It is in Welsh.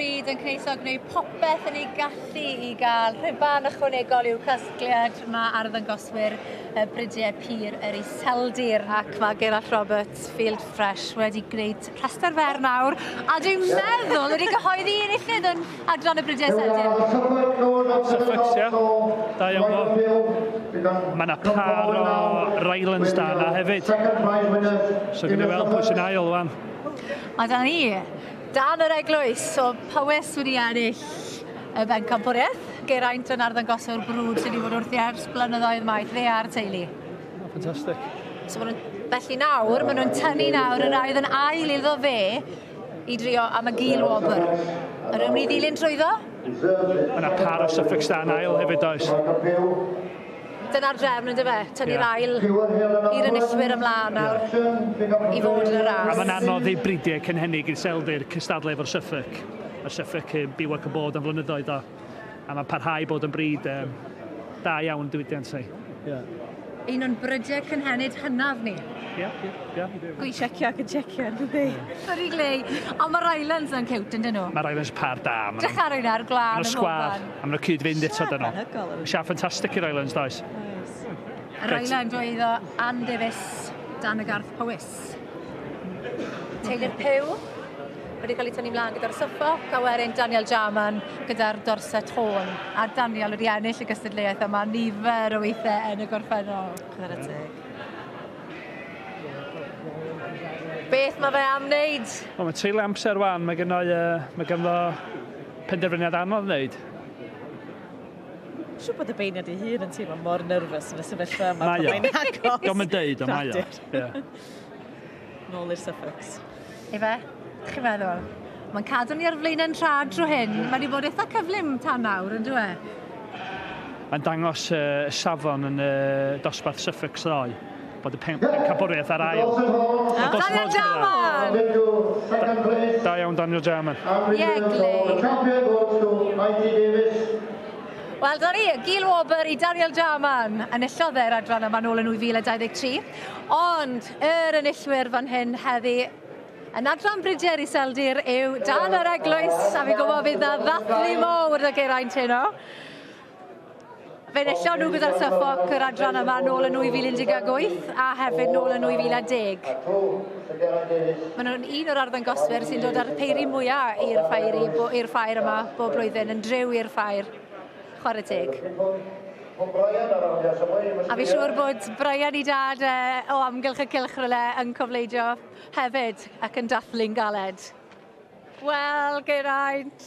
Bydd yn Cneisog gwneud popeth yn ei gallu i gael rhuban ychwanegol i'w casgliad. Mae arddangoswyr y bridiau pur yr Iseldir ac mae Gerallt Roberts, Field Fresh, wedi gwneud rhestr fer nawr a dwi'n meddwl wedi cyhoeddi un illid yn adran y bridiau Iseldir. Suffolksia, da iawn o. Mae yna par o Rylands da yna hefyd. So gynnu weld pwy sy'n ail wan. A da ni Dan yr eglwys, so pa wes wedi ennill y bencampwriaeth? Geraint yn arddangoswr brwd sydd wedi bod wrthi ers blynyddoedd maith, fe a'r teulu. Ffantastig. So maen nhw'n Felly nawr, maen nhw'n tynnu nawr yr air yn ail iddo fe i drio am y gil wobr. Yr ymwneud ddilyn trwyddo? Mae yna par o Suffolk Stan ail hefyd oes. Dyna'r drefn, yn dyfe? Tynnu'r yeah. ail i'r enillwyr ymlaen nawr yeah. i fod yn y ras. A mae'n anodd i bridiau cynhennig i'r seldir cystadlu efo'r Suffolk. Mae'r Suffolk yn byw ac yn bod am flynyddoedd o. A mae'n parhau bod yn brid um, da iawn diwydiant ei. Yeah. Un o'n brydiau cynhenid hynaf ni. Ie, ie, ie. Gwy checio ac yn checio, yn dydi? Sorry, Glei. Ond mae'r Islands yn cewt, yn dyn nhw? Mae'r Islands par da. Dechar yna'r glân yn Sgwar. A mae'n cyd-fynd eto dyn nhw. Siap ffantastig i'r Islands, does? Oes. Yr Island oedd o Ann Davies dan y garth Powys. Teulu'r Pew wedi cael ei tynnu mlaen gyda'r soffa, gawerin Daniel Jarman gyda'r Dorset Horn. A Daniel wedi ennill y gystadleuaeth yma nifer o weithiau yn y gorffennol. Chwarae teg. Beth mae fe am wneud? Wel, mae treulio amser wan, mae gennau, uh, mae ganddo Penderfyniad anodd wneud. Siw bod y beirniad ei hun yn teimlo mor nerfus yn y sefyllfa yma. Mae o. Mae'n agos. Diolch yn deud, ond mae o. Nôl i'r suffix. Efe, chi'n meddwl? Mae'n cadw ni ar flaenau'n tra dro hyn. Mae wedi bod eitha cyflym tan nawr, yn dweud? Mae'n dangos uh, safon yn y uh, dosbarth suffix ddoe. bod y pen- pencampwriaeth ar ail. Ah, Daniel Jarman! Da iawn Daniel Jarman. Iegli. Wel, dyna ni, Gil Wobr i Daniel Jarman. Enillodd e'r adran yma nôl yn 2023. Ond yr enillwyr fan hyn heddi yn adran Bryder i Seldir yw Dan yr Eglwys, a fi'n gwybod fydd na ddathlu mowr y Geraint heno. Fe enillion nhw gyda'r Suffolk yr adran yma nôl yn 2018 a hefyd nôl yn 2010. Maen nhw'n un o'r arddangoswyr sy'n dod â'r peiri mwyaf i'r ffair, i'r ffair yma bob blwyddyn, yn driw i'r ffair. Chwarae teg. A fi siŵr bod Brian i dad uh, o amgylch y cilch ryle yn cofleidio hefyd ac yn dathlu'n galed. Wel, Geraint,